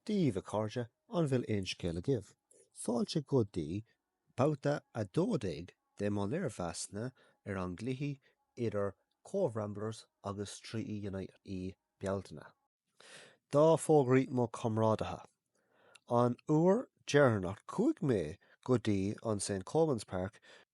Daoibh, a chairde, an bhfuil aon scéal agaibh? Fáilte go dtí babhta 12 de mo léirmheasanna ar an gcluiche idir Cobh Ramblers agus Treaty United i Bealtaine. Dhá fógraí mo chomrádaithe an uair dheireanach chuaigh mé go dtí an St Colmans Park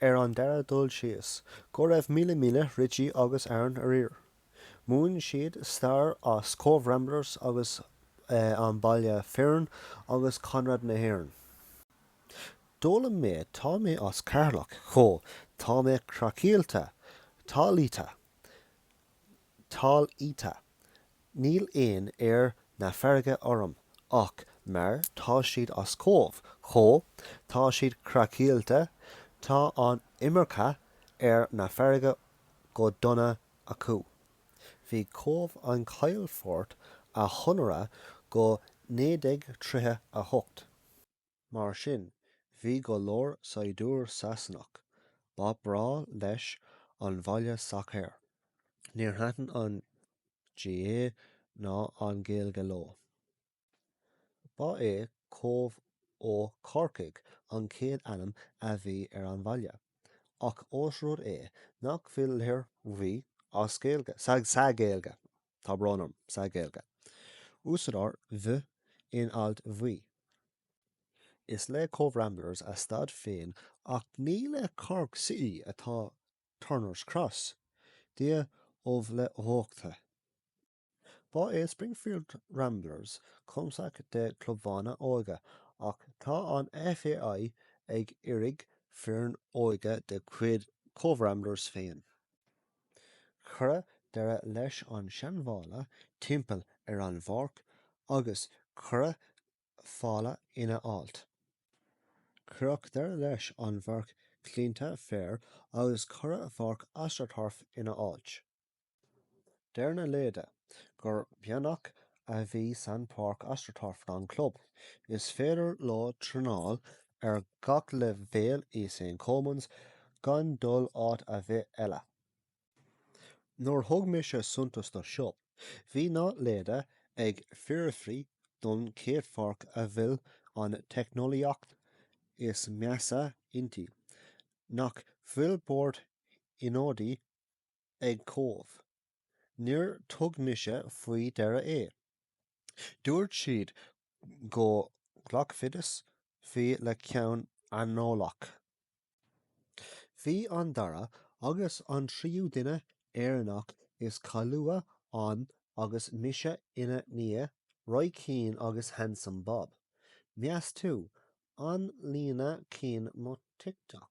Ar an dara dul síos, go raibh míle míle Richie agus Aaron arír. Mhúin siad stair as Cobh Ramblers agus an baile foireann agus Conradh na hÉireann. D'fhoghlaim mé tá mé as Ceatharlach chomh tá mé craiceáilte, talamhiata, talamhiata. Níl aon aer na farraige orm ach mar. tá siad as Cobh chomh, tá siad craiceáilte, tá an iomarca aer na farraige go dona acu. Bhí Cobh an calafort a chonradh go 1938. Mar sin, bhí go leor saighdiúir Sasanach, ba bhreá leis an bhaile sacair. Níor thaitin an GAA ná an Ghaeilge leo. Ba é Cóbh Ó Corcaigh an chéad ainm a bhí ar an bhaile, ach ós rud é nach bhfuil litir V as Gaeilge sa Ghaeilge, Tá brón orm, sa Gaeilge. Úsáidtear bh in áit V. Is le Cobh Ramblers a staid féin ach ní le Cork City atá Turner's Cross, Dia ubh le huachta. Ba é Springfield Ramblers cumasc de clubanna óige ach tá an FAI ag iarraidh foireann óige de chuid Cobh Ramblers féin. Cuireadh deireadh leis an seanbhalla timpeall ar an bpáirc agus cuireadh fál ina áit. Cuireadh deireadh leis an bpáirc claonta féir agus cuireadh pháirc astroturf ina áit. Deir na leaid gur beannacht a bhí san páirc astroturf don club. Is féidir leo traenáil ar gach leibhéal i St Colmans gan dul áit ar bith eile. Nuair thug mise suntas do seo, bhí na leaid ag fiafraí don chéad pháirc a bhfuil an teicneolaíocht is measa inti, nach bhfuil bord ionadaí ag Cobh? Níor thug mise faoi deara é. Dúirt siad go nglacfaidís faoi le ceann aineolach. Bhí an dara agus an tríú duine Éireannach is cáiliúla ann agus mise ina ndiaidh, Roy Keane agus Handsome Bob. Meas tú, an leanfaidh Keane mo TikTok?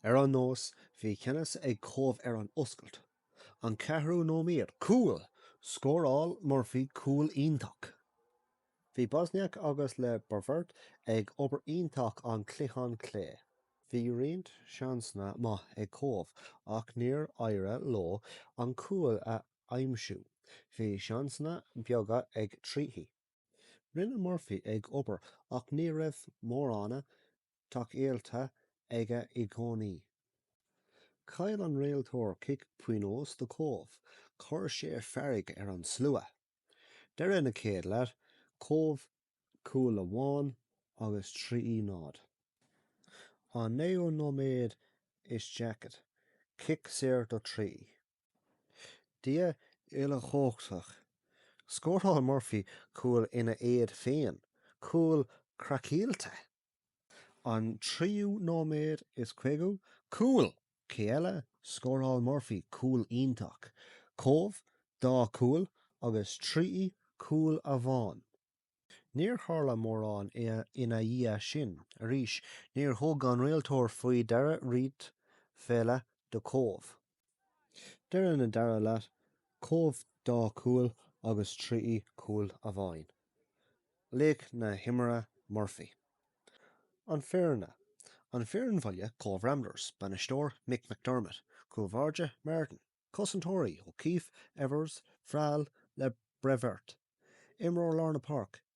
Ar aon nós, bhí ceannas ag Cóbh ar an oscailt. An ceathrú nóiméad, cúl! Scóráil Murphy cúl iontach. Bhí Bosnjak agus Le Bervet ag obair iontach an cliathán clé. Bhí roinnt seansanna maith ag Cóbh ach níor éirigh leo an cúl a aimsiú. Bhí seansanna beaga ag Treaty. Rinne Murphy ag obair ach ní raibh mórán tacaíochta aige i gcónaí. Chaill an réiteoir cic pionóis do Cóbh, chuir sé fearg ar an slua. Deireadh na chéad leath, Cóbh cúl amháin agus Treaty náid. An naoú nóiméad is daichead, cic saor do Treaty. Dia uilechumhachtach. Scóráil Murphy cúl ina éadan féin, cúl craiceailte. An tríú nóiméad is caoga, cúl! Cé eile? Scóráil Murphy cúl iontach. Cóbh, dá cúl agus Treaty cúl amháin. Níor tharla mórán ina dhiaidh sin arís. Níor thug an réiteoir faoi deara roinnt pheile do Cóbh. Deireadh na dara leath Cóbh dá cúl agus Treaty cúl amháin. Laoch na h-imeartha Murphy. An Foirne, An Fhoireann Bhaile Cóbh Ramblers, Bainisteoir Mick McDermott, Cúl Báire Martin, Cosantóirí O'Keeffe, Evers, Frahill, Le Bervet, Imreoir Lár na Páirc,